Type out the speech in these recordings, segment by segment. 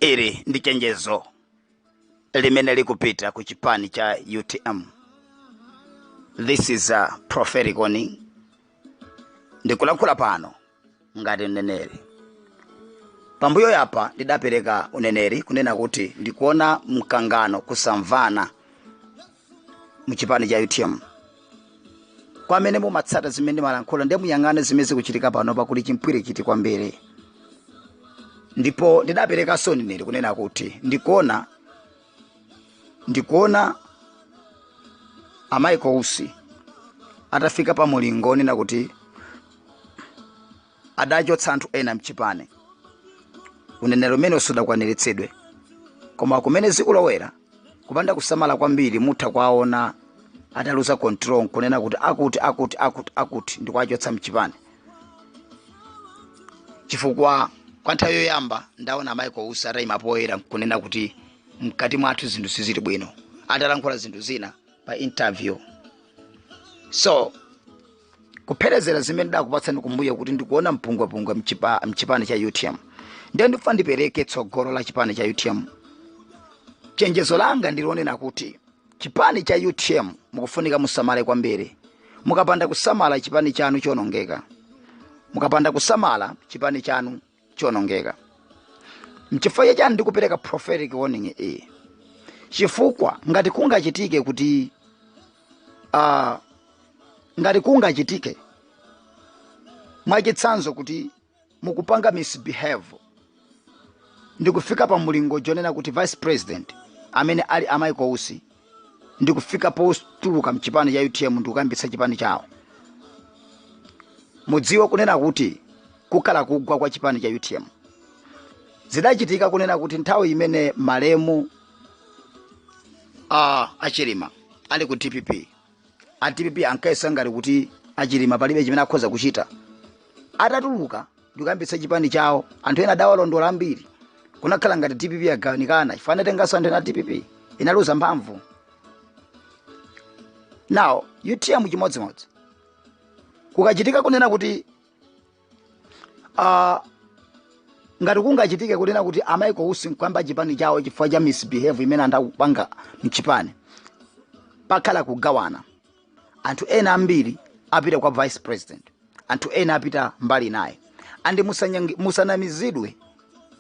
ili ndi chenjezo limene likupita ku chipani cha utm this is a prophetic warning ndikulankhula pano ngati mneneri pambuyo apa ndidapereka uneneri kunena kuti ndikuona mkangano kusamvana mchipani cha utm kwa amene mumatsata zimene ndimalankhula ndiye muyang'ane zimene zikuchitika pano pakuli chimpwirikiti kwambiri ndipo ndidaperekanso uneneri kunena kuti ndikuona ndikuona a Michael Usi atafika pa mulingo onena kuti adachotsa anthu ena mchipani uneneri umenewo sudakwaniritsidwe koma kumene zikulowera kupanda kusamala kwambiri mutha kwaona ataluza control nkunena kuti akuti akuti akuti akuti ndikuwachotsa mchipani chifukwa kwa nthawi yoyamba ndaona a Michael Usi ataima poyera nkunena kuti mkati mwathu zinthu sizili bwino atalankhula zinthu zina pa interview so kupherezera zimene ndidakupatsani kumbuyo kuti ndikuona mpungwepungwe mchipani cha utm ndiye ndikufuna ndipereke tsogolo la chipani cha utm chenjezo langa ndi lonena kuti chipani cha utm mukufunika musamale kwambiri mukapanda kusamala chipani chanu chionongeka mukapanda kusamala chipani chanu chionongeka mchifukwa cha chani ndikupereka prophetic warning iyi chifukwa ngati kungachitike kuti uh, ngati kungachitike mwachitsanzo kuti mukupanga misbehave ndikufika pa mulingo onena kuti vice president amene ali a Michael Usi ndikufika potuluka mchipani cha utm ndikukayambitsa chipani chawo mudziwe kunena kuti kukhala kugwa kwa chipani cha utm zidachitika kunena kuti nthawi imene malemu a achilima ali ku dpp a dpp ankayesa ngati kuti achilima palibe chimene akhoza kuchita atatuluka ndikuyambitsa chipani chawo anthu ena adawalondola ambiri kunakhala ngati dpp yagawanikana chifukwa anatenganso anthu ena a dpp inaluza mphamvu now utm chimodzimodzi kukachitika kunena kuti uh, ngati kungachitike kunena kuti a Michael Usi nkuyamba chipani chawo chifukwa cha misbehave imene anthu akupanga mchipani pakhala kugawana anthu ena ambiri apita kwa vice president anthu ena apita mbali inayi and musanyangi- musanamizidwe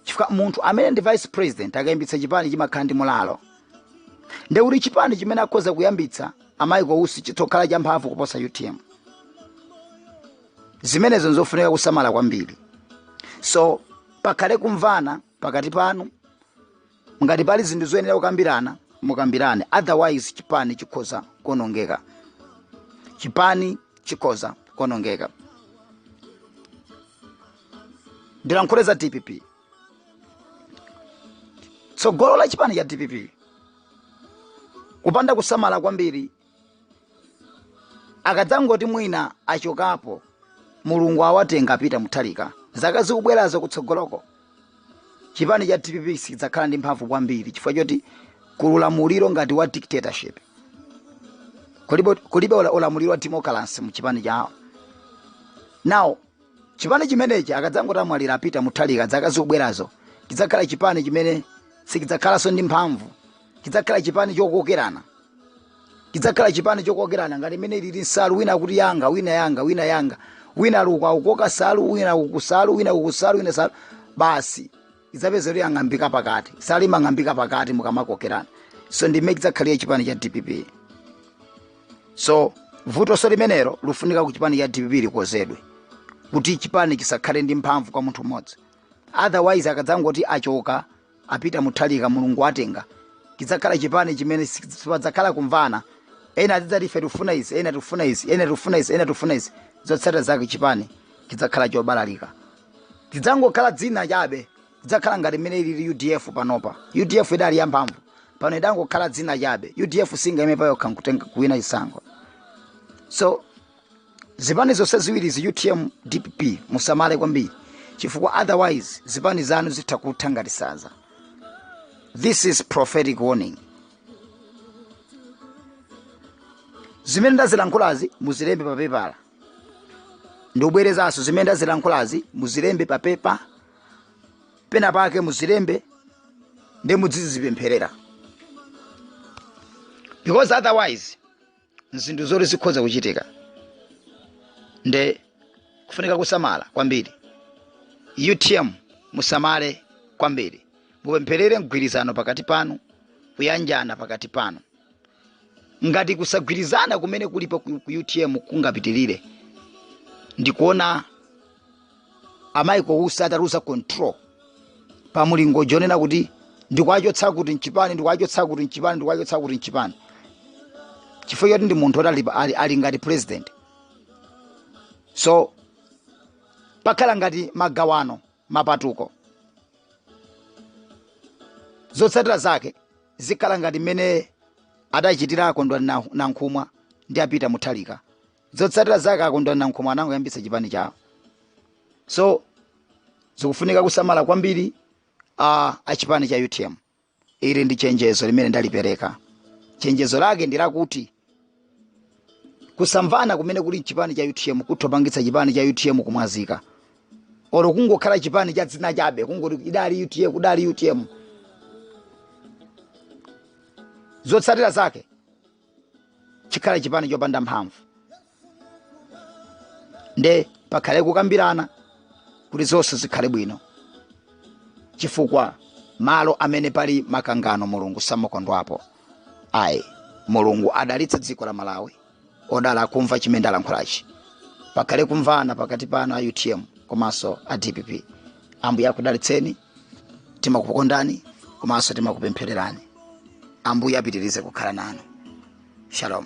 chifukwa munthu amene ndi vice president akayambitsa chipani chimakhala ndi mulalo ndekuti chipani chimene akhoza kuyambitsa a michael usi chitokhala champhamvu kuposa utm zimenezo nzofunika kusamala kwambiri so pakhale kumvana pakati panu ngati pali zinthu zoyenera kukambirana mukambirane otherwise chipani chikhoza kuonongeka chipani chikhoza kuonongeka ndilankhule za dpp tsogolo la chipani cha dpp kupanda kusamala kwambiri akadzangoti mwina achokapo mulungu awatenga a peter mutharika zaka zikubwerazo kutsogoloko chipani cha dpp sichidzakhala ndi mphamvu kwambiri chifukwa choti kuli ulamuliro ngati wa dictatorship kulibe, kulibe ula- ulamuliro wa democracy mu chipani chawo now chipani chimenechi akadzangoti amwalira a peter mutharika dzaka zikubwerazo chidzakhala chipani chimene sichidzakhalanso ndi mphamvu chidzakhala chipani chokokerana chidzakhala chipani chokokerana ngati mmene ilili nsalu wina akuti yanga wina yanga wina yanga wina ali uku akukoka nsalu wina uku nsalu wina uku nsalu wina nsalu basi idzapeza kuti yang'ambika pakati nsalu imang'ambika pakati mukamakokerana so ndi mmene idzakhalira chipani cha dpp so vutonso limenelo lufunika ku chipani cha dpp likonzedwe kuti chipani chisakhale ndi mphamvu kwa munthu mmodzi otherwise akadzangoti achoka a peter mutharika mulungu atenga chidzakhala chipani chimene si- sipadzakhala kumvana ena azidzati ife tifuna izi ena tifuna izi ena tifuna izi ena tifuna izi zotsatira zake chipani chidzakhala chobalalika chidzangokhala dzina chabe chidzakhala ngati mmene ilili udf panopa udf idali yamphamvu pano idangokhala dzina chabe udf singayime payokha nkutenga kuwina chisankho so zipani zonse ziwiri izi utm dpp musamale kwambiri chifukwa otherwise zipani zanu zitha kutha ngati nsanza this is prophetic warning zimene ndazilankhulazi muzilembe papepala ndikubwerezanso zimene ndazilankhulazi muzilembe pa pepa pena pake muzilembe ndi mudzizipempherera because otherwise nzinthu zoti zikhoza kuchitika nde kufunika kusamala kwambiri utm musamale kwambiri mupempherere mgwirizano pakati panu kuyanjana pakati panu ngati kusagwirizana kumene kulipo ku ku utm kungapitirire ndikuona a michael usi ataluza control pa mulingo wonena kuti ndikuwachotsa kuti mchipani ndikuwachotsa kuti mchipani ndikuwachotsa kuti mchipani chifukwa choti ndi munthu oti ali, ali, ali ngati president so pakhala ngati magawano mapatuko zotsatira zake zikhala ngati mmene adachitira akondwani nankhumwa ndiyapita muthalika zotsatira zake akondwani nankhumwa anangoyambitsa chipani chawo so zikufunika kusamala kwambiri a chipani cha utm ili ndi chenjezo limene ndalipereka chenjezo lake ndi lakuti kusamvana kumene kuli mchipani cha utm kutha kupangitsa chipani cha utm kumwazika oro kungokhala chipani cha dzina chabe kungoti idali utm kudali utm zotsatira zake chikhala chipani chopanda mphamvu nde pakhale kukambirana kuti zonse zikhale bwino chifukwa malo amene pali makangano mulungu samakondwapo ayi mulungu adalitse dziko la malawi odala akumva chimene ndalankhulachi pakhale kumvana pakati panu a utm komanso a dpp ambuye akudalitseni timakukondani komanso timakupemphererani ambuye apitirize kukhala nanu shalom